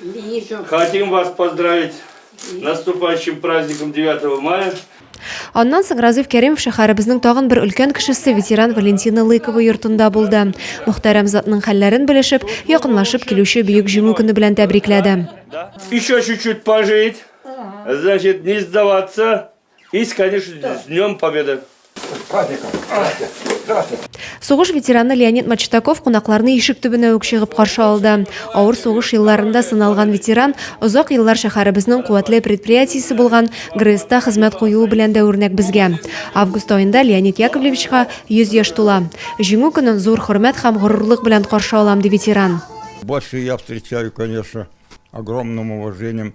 Вижу. Хотим вас поздравить с наступающим праздником 9 мая. Аннан соң Разыйф Кәримов шәһәребезнең тагын бер өлкән кешесе ветеран Валентина Лыкова йортында булды. Мөхтәрәм затның хәлләрен белешеп, якынлашып килүче бөек җиңү көне белән тәбрикләде. Еще чуть-чуть пожить, значит, не сдаваться, Есть, конечно, с Днем Победы. Сугыш ветераны Леонид Мачтаков кунакларны ишек төбенә үк чыгып каршы алды. Авыр сугыш елларында сыналган ветеран озак еллар шәһәребезнең куәтле предприятиесе булган ГРЭСта хезмәт куюы белән дә үрнәк безгә. Август аенда Леонид Яковлевичка 100 яшь тула. Җиңү көнен зур хөрмәт һәм горурлык белән каршы алам, ди ветеран. Больше я встречаю, конечно, огромным уважением